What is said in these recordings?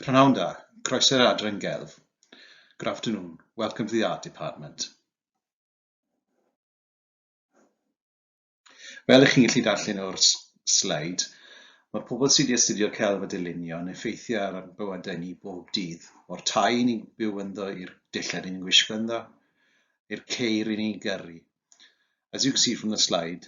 Prynhawn da, croeso i'r adran gelf. Good afternoon, welcome to the art department. Fel ych chi'n gallu darllen o'r sleid, mae pobl sydd wedi astudio celf a dylunio yn effeithio ar ein bywydau ni bob dydd, o'r tai ni'n byw ynddo i'r dillad ni'n gwisgo ynddo, i'r ceir ni'n gyrru. As you can see from the slide,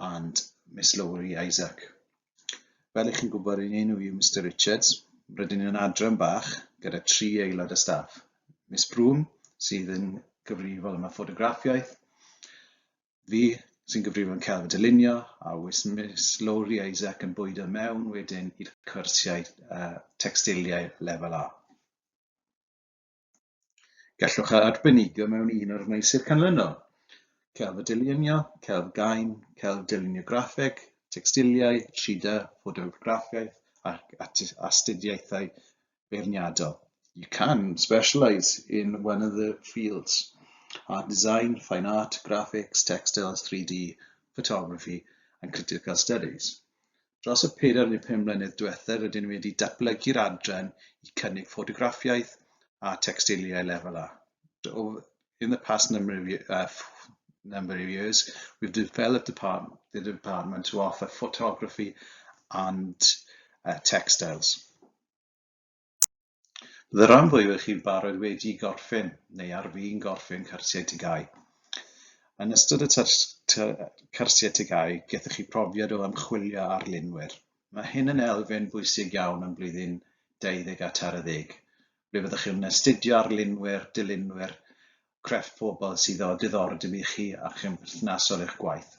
and Miss Lowri Isaac. Fel ych chi'n gwybod, yn enw yw Mr Richards. Rydyn ni'n adran bach gyda tri aelod y staff. Miss Broom, sydd yn gyfrifol am y ffotograffiaeth, fi sy'n gyfrifol yn cael y dylunio, a wys Miss Lowri Isaac yn bwyd o mewn wedyn i'r cwrsiau uh, textiliau lefel A. Gallwch a arbenigo mewn un o'r meysydd canlynol, celf a dylunio, celf gain, celf dylunio graffeg, tecstiliau, 3D, ffotograffiaeth ac astudiaethau beirniadol. You can specialise in one of the fields, art design, fine art, graphics, textiles, 3D, photography and critical studies. Dros y pedair neu pum mlynedd diwethaf rydyn ni wedi datblygu'r adran i cynnig ffotograffiaeth a tecsteiliau lefel A. In the past number of, uh, number of years, we've developed department, the department to offer photography and uh, textiles. The ran fwyaf o chi'n barod wedi gorffen neu ar fin gorffen cyrsiau TGAU. Yn ystod y cyrsiau TGAU, gethoch chi profiad o ymchwilio ar linwyr. Mae hyn yn elfen bwysig iawn yn blwyddyn 20 a tair ddeg, ble fyddwch chi'n astudio ar linwyr, dilynwyr, crefft pobl sydd o diddordeb i chi a chymperthnasol i'ch gwaith.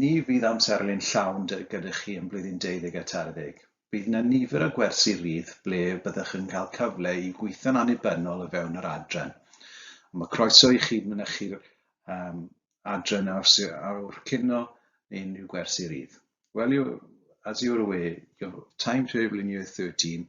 Ni fydd amserlen llawn dy gyda chi yn blwyddyn deuddeg a tair-ddeg. Bydd yna nifer o gwersi rydd ble byddwch yn cael cyfle i gweithio'n annibynnol o fewn yr adran. Ond mae croeso i chi mynychu'r um, adran a yw'r cino neu unrhyw gwersi rydd. Well, you, as you're aware, your timetable in year 13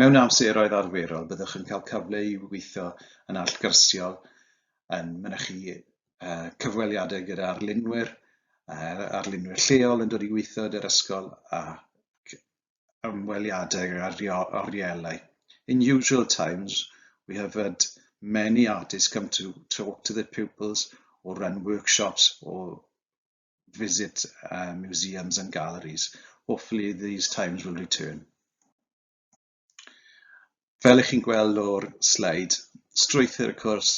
Mewn amseroedd arferol, byddwch yn cael cyfle i weithio yn allgyrsiol, yn mynychu cyfweliadau gyda arlunwyr, arlunwyr lleol yn dod i weithio gyda'r ysgol ac ymweliadau ar orielau. In usual times, we have had many artists come to talk to the pupils or run workshops or visit uh, museums and galleries. Hopefully these times will return. Fel ych chi'n gweld o'r sleid, strwythyr y cwrs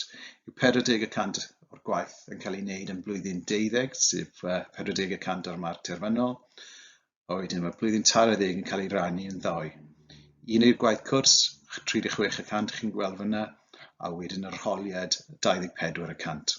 yw 40 y cant o'r gwaith yn cael ei wneud yn blwyddyn deuddeg, sef uh, 40 y cant o'r marc terfynol, a wedyn mae blwyddyn tair ddeg yn cael ei rannu yn ddau. Un i'r gwaith cwrs, 36 y cant chi'n gweld fyna, a wedyn yr holiad 24 y cant.